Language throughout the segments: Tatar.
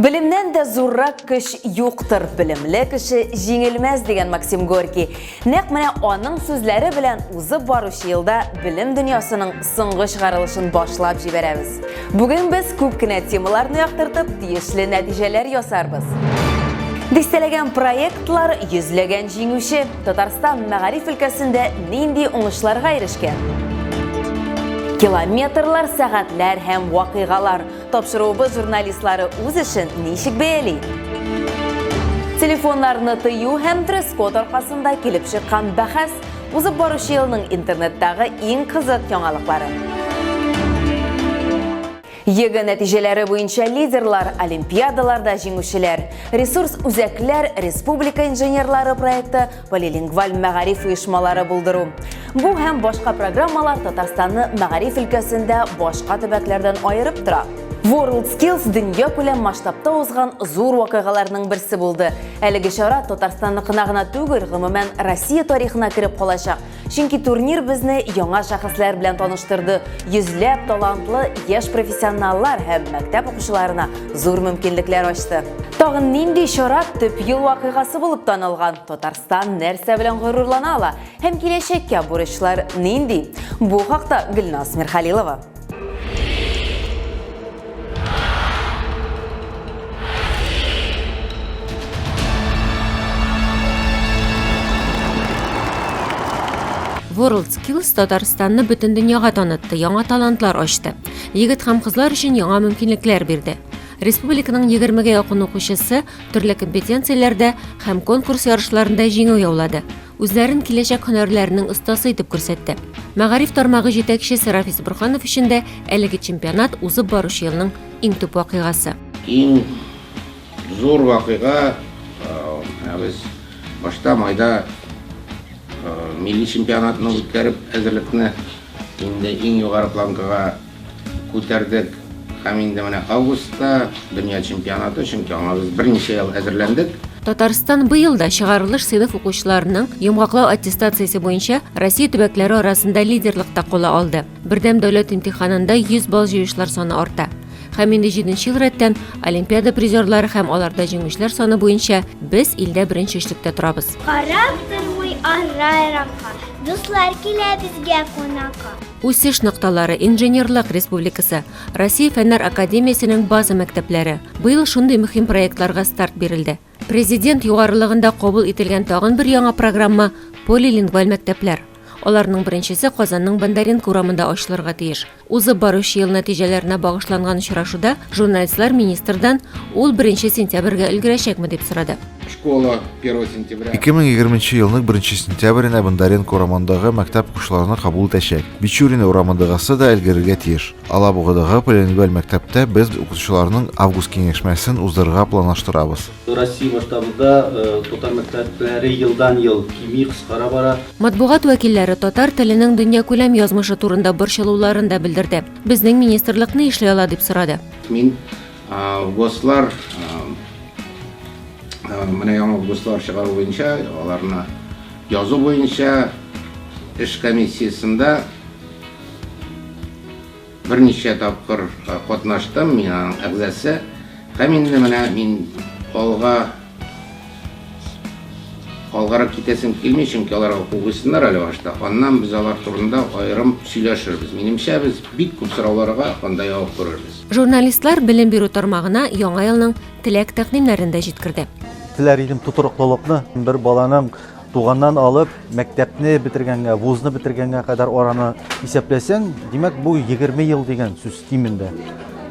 Белемнән дә зуррак көч юктыр, белемле кеше җиңелмәс дигән Максим Горький. Нәкъ менә аның сүзләре белән узып баручы елда белем дөньясының соңгы чыгарылышын башлап җибәрәбез. Бүген без күп кенә темаларны яктыртып, тиешле нәтиҗәләр ясарбыз. Дистәләгән проектлар, йөзләгән җиңүче, Татарстан мәгариф өлкәсендә нинди уңышларга ирешкән? Километрлар, сәгатьләр һәм вакыйгалар Тапшыруыбыз журналистлары үз эшен ничек бәяли? Телефоннарны тыю һәм дресс-код аркасында килеп чыккан бәхәс узып баручы елның интернеттагы иң кызык яңалыклары. Егэ нәтиҗәләре буенча лидерлар, олимпиадаларда җиңүчеләр, ресурс үзәкләр, республика инженерлары проекты полилингваль мәгариф оешмалары булдыру. Бу һәм башка программалар Татарстанны мәгариф өлкәсендә башка төбәкләрдән аерып тора. World Skills дөнья күләм масштабта узган зур вакыйгаларның берсе булды. Әлеге чара Татарстанныкына гына түгел, гомумән Россия тарихына кереп калачак. Чөнки турнир безне яңа шәхесләр белән таныштырды. Йөзләп талантлы яшь профессионаллар һәм мәктәп укучыларына зур мөмкинлекләр ачты. Тагын нинди чара төп ел вакыйгасы булып танылган? Татарстан нәрсә белән горурлана ала? Һәм киләчәккә бурычлар нинди? Бу хакта Гөлназ Мирхалилова. WorldSkills Татарстанны бөтен дөньяга танытты, яңа талантлар ачты. Егет һәм кызлар өчен яңа мөмкинлекләр бирде. Республиканың 20-гә якын укучысы төрле компетенцияләрдә һәм конкурс ярышларында җиңү яулады. үзләрен киләчәк һөнәрләренең остасы итеп күрсәтте. Мәгариф тармагы җитәкчесе Рафис Бурханов өчен дә әлеге чемпионат узып баручы елның иң төп вакыйгасы. Иң зур вакыйга ә, без башта майда ә, милли чемпионатны үткәреп әзерлекне инде иң югары планкага Күтәрдек һәм инде менә августта дөнья чемпионаты, чөнки аңа без берничә ел әзерләндек. Татарстан быел да чыгарылыш сыйныф укучыларының йомгаклау аттестациясе буенча Россия төбәкләре арасында лидерлыкта кала алды. Бердәм дәүләт имтиханында 100 балл җыючылар саны арта. Һәм инде җиденче ел рәттән Олимпиада призерлары һәм аларда җиңүчеләр саны буенча без илдә беренче өчлектә торабыз. Карап тормый арра-еракка, дуслар килә безгә кунакка. Үсеш нокталары Инженерлык республикасы, Россия фәннәр академиясенең база мәктәпләре. Быел шундый мөһим проектларга старт бирелде. Президент югарылыгында кабул ителгән тагын бер яңа программа полилингваль мәктәпләр. Аларның беренчесе Казанның Бондаренко урамында ачылырга тиеш. Узып баручы ел нәтиҗәләренә багышланган очрашуда журналистлар министрдан ул беренче сентябрьгә өлгерәчәкме дип сорады. Школа 1 сентября. 2020 елның 1 сентябренә Бондаренко урамындагы мәктәп укучыларны кабул итәчәк. Бичурина урамындагысы да өлгерергә тиеш. Алабугадагы Поленибель мәктәптә без укучыларның август киңәшмәсен уздырырга планлаштырабыз. Россия масштабында э, татар мәктәпләре елдан-ел кими, кыскара бара. Матбугат вәкилләре татар теленең дөньякүләм язмышы турында борчылуларын да белдерде. Безнең министрлык ни эшли ала дип сорады. Мин Гослар менә яңа гослар чыгару буенча, аларны язу буенча эш комиссиясендә берничә тапкыр катнаштым, мин аның әгъзасы. Һәм инде менә мин алга алгарак китәсем килми, чөнки аларга кугысыннар әле башта. Аннан без алар турында аерым сөйләшербез. Минемчә, без бик күп сорауларга анда җавап күрербез. Журналистлар белем бирү тармагына яңа елның теләк тәкъдимнәрен дә җиткерде. Теләр идем тотрыклылыкны, бер баланың туганнан алып, мәктәпне бетергәнгә, вузны бетергәнгә кадәр араны исәпләсәң, димәк, бу 20 ел дигән сүз кимендә.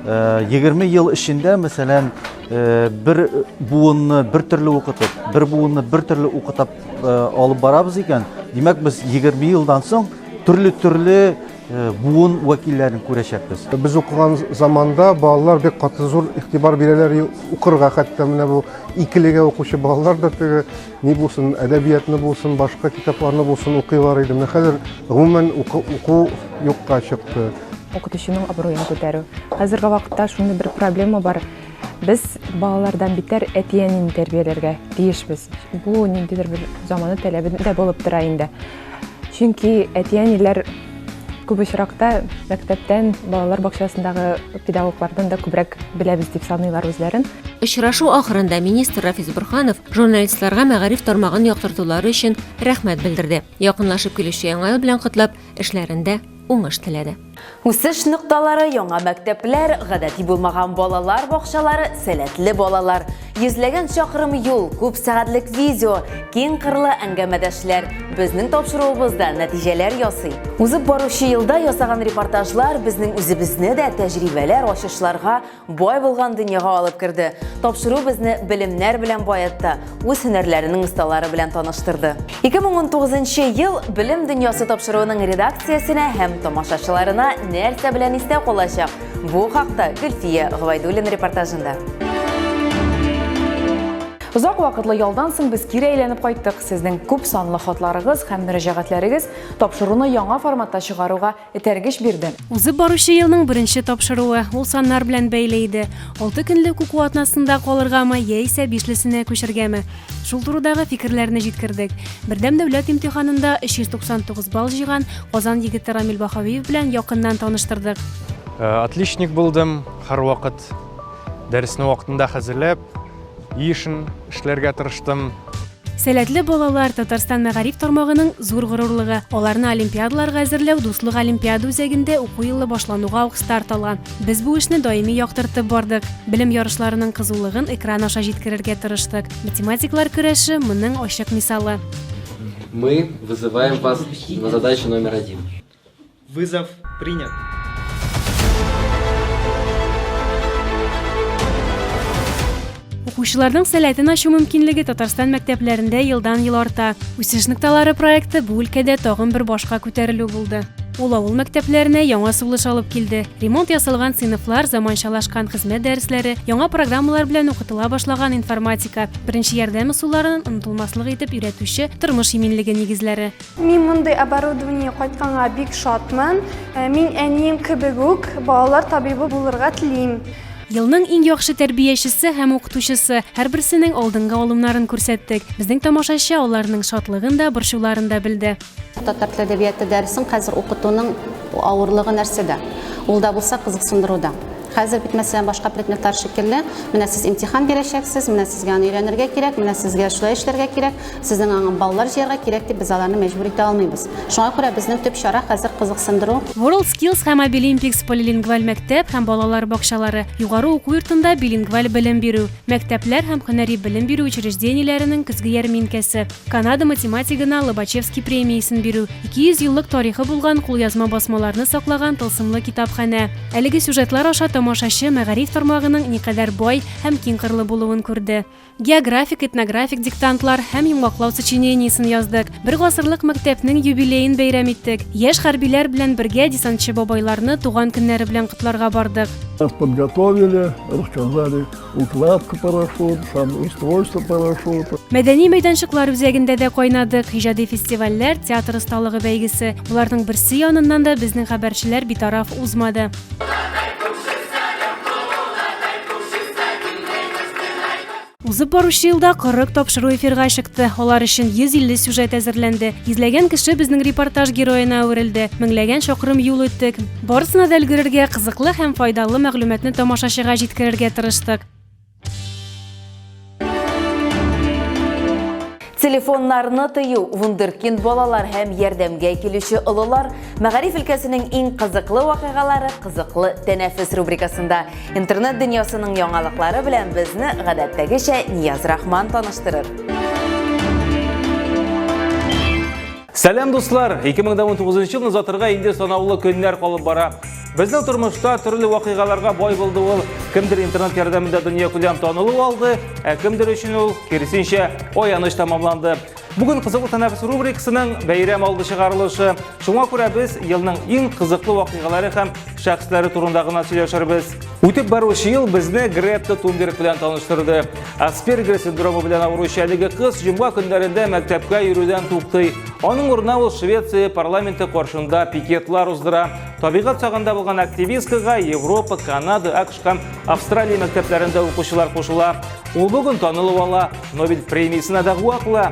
20 э, ел эчендә, мәсәлән, э, бер буынны бер төрле укытып, бер буынны бер төрле укытып э, алып барабыз икән, димәк, без 20 елдан соң төрле-төрле буын вәкилләрен күрәчәкбез. Без укыган заманда балалар бик каты зур игътибар бирәләр укырга, хәтта менә бу икелегә укучы балалар да теге ни булсын, әдәбиятны булсын, башка китапларны булсын укыйлар иде. Менә хәзер гомумән уку юкка чыкты. Укытучының абруен күтәрү. Хәзерге вакытта шундый бер проблема бар. Без балалардан битәр әти-әнине тәрбияләргә тиешбез. Бу ниндидер бер заманы таләбе дә булып тора инде. Чөнки әти-әниләр күп очракта мәктәптән, балалар бакчасындагы педагоглардан да күбрәк беләбез дип саныйлар үзләрен. Очрашу ахырында министр Рафис Бурханов журналистларга мәгариф тармагын яктыртулары өчен рәхмәт белдерде. Якынлашып килүче Яңа ел белән котлап, эшләрендә уңыш теләде. Үсеш нокталары, яңа мәктәпләр, гадәти булмаган балалар бакчалары, сәләтле балалар, йөзләгән чакрым юл, күп сәгатьлек видео, киң кырлы әңгәмәдәшләр безнең тапшыруыбызда нәтиҗәләр ясый. Узып баручы елда ясаган репортажлар безнең үзебезне дә тәҗрибәләр, ачышларга, бай булган дөньяга алып керде. Тапшыру безне белемнәр белән баетты, үз һөнәрләренең осталары белән таныштырды. 2019 ел Белем дөньясы тапшыруының редакциясенә һәм тамашачыларына нәрсә белән истә калачак? Бу хакта Гөлфия Гвайдуллин репортажында. Озак вакытлы ялдан соң без кире әйләнеп кайттык. Сезнең күп санлы хатларыгыз һәм мөрәҗәгатьләрегез тапшыруны яңа форматта чыгаруга этәргеч бирде. Узып баручы елның беренче тапшыруы, ул саннар белән бәйле иде. Алты көнлек уку атнасында калыргамы, яисә бишлесенә күчергәме? Шул турыдагы фикерләрне җиткердек. Бердәм дәүләт имтиханында 399 балл җыйган Казан егете Рамил Баһавиев белән якыннан таныштырдык. Э, отличник булдым, һәрвакыт дәресне вакытында хәзерләп, Ешн эшләргә тырыштым. Сәләтле балалар, Татарстан мәгариф тармагының зур горурлыгы. Аларны олимпиадаларга әзерләү Дуслык олимпиада үзәгендә уку елы башлануга ук старт алган. Без бу эшне даими яктыртып бардык. Белем ярышларының кызулыгын экран аша җиткерергә тырыштык. Математиклар көрәше моның ачык мисалы. Мы вызываем вас на задачу номер один. Вызов принят. Укучыларның сәләтен ачу мөмкинлеге Татарстан мәктәпләрендә елдан-ел арта. Үсеш нокталары проекты бу өлкәдә тагын бер башка күтәрелү булды. Ул авыл мәктәпләренә яңа сулыш алып килде. Ремонт ясалган сыйныфлар, заманчалашкан хезмәт дәресләре, яңа программалар белән укытыла башлаган информатика, беренче ярдәм ысулларын онытылмаслык итеп өйрәтүче тормыш иминлеге нигезләре. Мин мондый оборудование кайтканга бик шатмын. Э, мин әнием кебек үк балалар табибы булырга телим. Елның иң яхшы тәрбиячесе һәм укытучысы һәрберсенең алдынгы алымнарын күрсәттек. Безнең тамашачы аларның шатлыгын да, борчуларын да белде. Татар теле әдәбияты дәресен хәзер укытуның авырлыгы нәрсәдә? Ул да булса кызыксындыруда. Хәзер бит, мәсәлән, башка предметлар шикелле, менә сез имтихан бирәчәксез, менә сезгә аны өйрәнергә кирәк, менә сезгә шулай эшләргә кирәк, сезнең аңа баллар җыярга кирәк дип без аларны мәҗбүр итә алмыйбыз. Шуңа күрә безнең төп чара хәзер кызыксындыру. WorldSkills һәм Abilimpics полилингваль мәктәп һәм балалар бакчалары, югары уку йортында билингваль белем бирү, мәктәпләр һәм һөнәри белем бирү учреждениеләренең көзге ярминкәсе, Канада математигына Лобачевский премиясен бирү, 200 еллык тарихы булган кулъязма басмаларны саклаган тылсымлы китапханә, Әлеге сюжетлар аша тамашачы мәгариф тармагының никадәр бай һәм киңкырлы булуын күрде. Географик, этнографик диктантлар һәм йомгаклау сочинениесен яздык. Бер гасырлык мәктәпнең юбилеен бәйрәм иттек. Яшь хәрбиләр белән бергә десантчы бабайларны туган көннәре белән котларга бардык. Подготовили, рассказали Укладка парашют һәм устройство парашюта. Мәдәни мәйданчыклар үзәгендә дә кайнадык. Иҗади фестивальләр, театр осталыгы бәйгесе. Боларның берсе яныннан да безнең хәбәрчеләр битараф узмады. Узып баручы елда 40 тапшыру эфирга чыкты. Алар өчен 150 сюжет әзерләнде. Йөзләгән кеше безнең репортаж героена әверелде. Меңләгән чакрым юл үттек. Барысына да өлгерергә, кызыклы һәм файдалы мәгълүматны тамашачыга җиткерергә тырыштык. Телефоннарны тыю, вундеркинд балалар һәм ярдәмгә килүче олылар, мәгариф өлкәсенең иң кызыклы вакыйгалары кызыклы тәнәфес рубрикасында. Интернет дөньясының яңалыклары белән безне гадәттәгечә Нияз Рахман таныштырыр. Сәлам дуслар! 2019 елны озатырга инде санаулы көннәр калып бара. Безнең тормышта төрле вакыйгаларга бай булды ул. Кемдер интернет ярдәмендә дөнья күләм танылу алды, ә кемдер өчен ул, киресенчә, аяныч тамамланды. Бүген кызыклы тәнәфес рубрикасының бәйрәм алды чыгарылышы. Шуңа күрә без елның иң кызыклы вакыйгалары һәм шәхесләре турында гына сөйләшербез. Үтеп баручы ел безне Гретта Тунберг белән таныштырды. Аспергер синдромы белән авыручы әлеге кыз җомга көннәрендә мәктәпкә йөрүдән туктый. Аның урынына ул Швеция парламенты каршында пикетлар уздыра. Табигать сагында булган активисткага Европа, Канада, АКШ һәм Австралия мәктәпләрендә укучылар кушыла. Ул бүген танылып ала, Нобель премиясенә дәгъва кыла.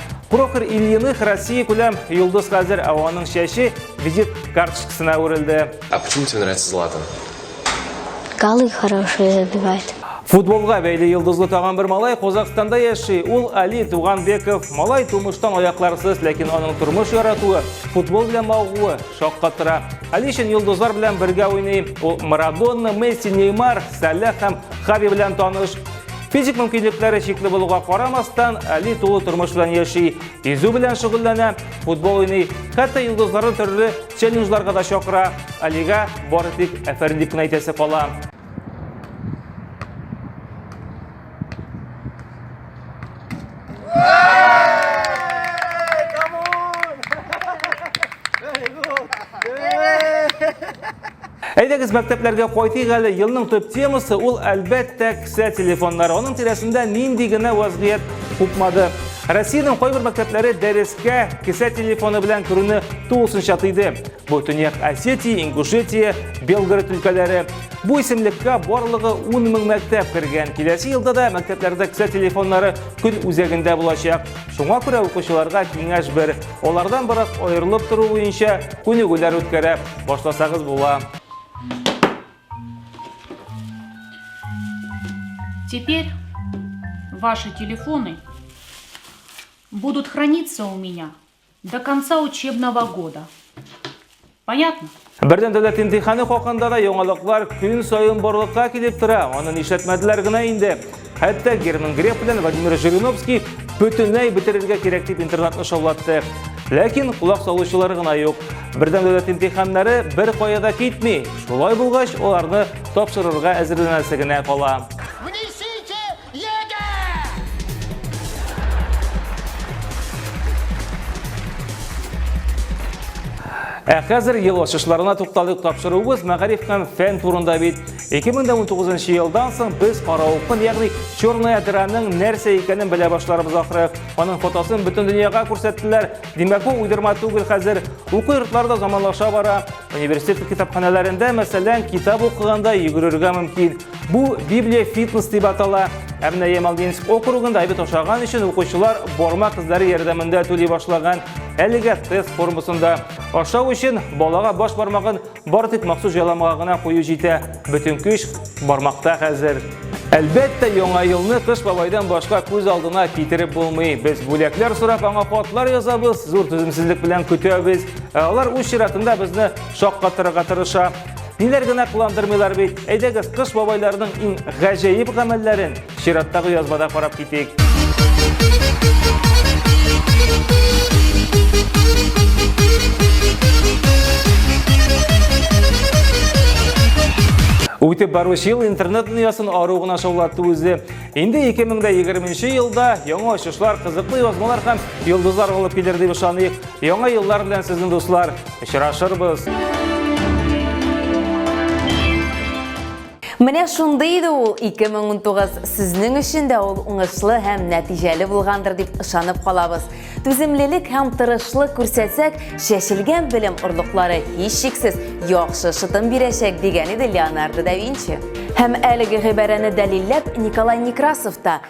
Прохор Ильиных Россия күләм йолдыз хәзер, ә аның чәче визит карточкасына үрелде. А почему тебе нравится Златан? Голы хорошие забивает. Футболга бәйле йолдызлы тагын бер малай Казахстанда яши. Ул Али Туганбеков. Малай тумыштан аякларсыз, ләкин аның тормыш яратуы, футбол белән мавыгуы шаккатыра. Али өчен йолдызлар белән бергә уйный. Ул Марадонна, Месси, Неймар, Салах һәм Хави белән таныш. Физик мөмкинлекләре чикле булуга карамастан, Али тулы тормыш белән яши. Йөзү белән шөгыльләнә, футбол уйный, хәтта йолдызларны төрле челленджларга да чакыра. Алига бары тик әфәрин дип кенә әйтәсе кала. Әйдәгез мәктәпләргә кайтыйк әле. Елның төп темасы ул әлбәттә кесә телефоннары. Аның тирәсендә нинди генә вазгыять купмады. Россиянең кайбер мәктәпләре дәрескә кесә телефоны белән керүне тулысынча тыйды. Бу Төньяк Осетия, Ингушетия, Белгород өлкәләре. Бу исемлеккә барлыгы 10 мең мәктәп кергән. Киләсе елда да мәктәпләрдә кесә телефоннары көн үзәгендә булачак. Шуңа күрә укучыларга киңәш бер. Алардан бераз аерылып тору буенча күнегүләр үткәрә башласагыз була. Теперь ваши телефоны будут храниться у меня До конца учебного года. Понятно? Бердәм дәүләт имтиханы хакында да яңалыклар көн саен барлыкка килеп тора. Аны нишләтмәделәр генә инде. Хәтта Герман Греф белән Владимир Жириновский бөтенләй бетерергә кирәк дип интернетны шаулатты. Ләкин кулак салучылар гына юк. Бердәм дәүләт имтиханнары бер кая да китми. Шулай булгач, аларны тапшырырга әзерләнәсе генә кала. Ә хәзер ел ачышларына тукталыйк тапшыруыбыз мәгариф һәм фән турында бит. 2019 елдан соң без каравылкын, ягъни черная дыраның нәрсә икәнен белә башларыбыз ахры. Аның фотосын бөтен дөньяга күрсәттеләр. Димәк, бу уйдырма түгел хәзер. Уку йортлары да заманлаша бара. Университет китапханәләрендә, мәсәлән, китап укыганда йөгерергә мөмкин. Бу Библия фитнес дип атала. Ә менә Ямалдинск округында әйбәт ашаган өчен укучылар бармак эзләре ярдәмендә түли башлаган. Әлегә тест формасында. Ашау өчен балага баш бармагын бар тик махсус җайламага гына кую җитә. Бөтен көч бармакта хәзер. Әлбәттә, яңа елны Кыш бабайдан башка күз алдына китереп булмый. Без бүләкләр сорап аңа хатлар язабыз, зур түземсезлек белән көтәбез. Ә алар үз чиратында безне шаккатырырга тырыша. Ниләр генә кыландырмыйлар бит. Әйдәгез, Кыш бабайларының иң гаҗәеп гамәлләрен Чираттагы язмада карап китик. Үтеп баручы ел интернет дөньясын ару гына шаулатты үзе. Инде 2020 елда яңа ачышлар, кызыклы язмалар һәм йолдызлар алып килер дип ышаныйк. Яңа еллар белән сезнең дуслар. Очрашырбыз. Менә шундый иде ул 2019. Сезнең өчен дә ул уңышлы һәм нәтиҗәле булгандыр дип ышанып калабыз. Түземлелек һәм тырышлык күрсәтсәк, чәчелгән белем орлыклары һичшиксез яхшы шытым бирәчәк, дигән иде Леонардо да Винчи. Һәм әлеге гыйбарәне дәлилләп Николай Некрасов та,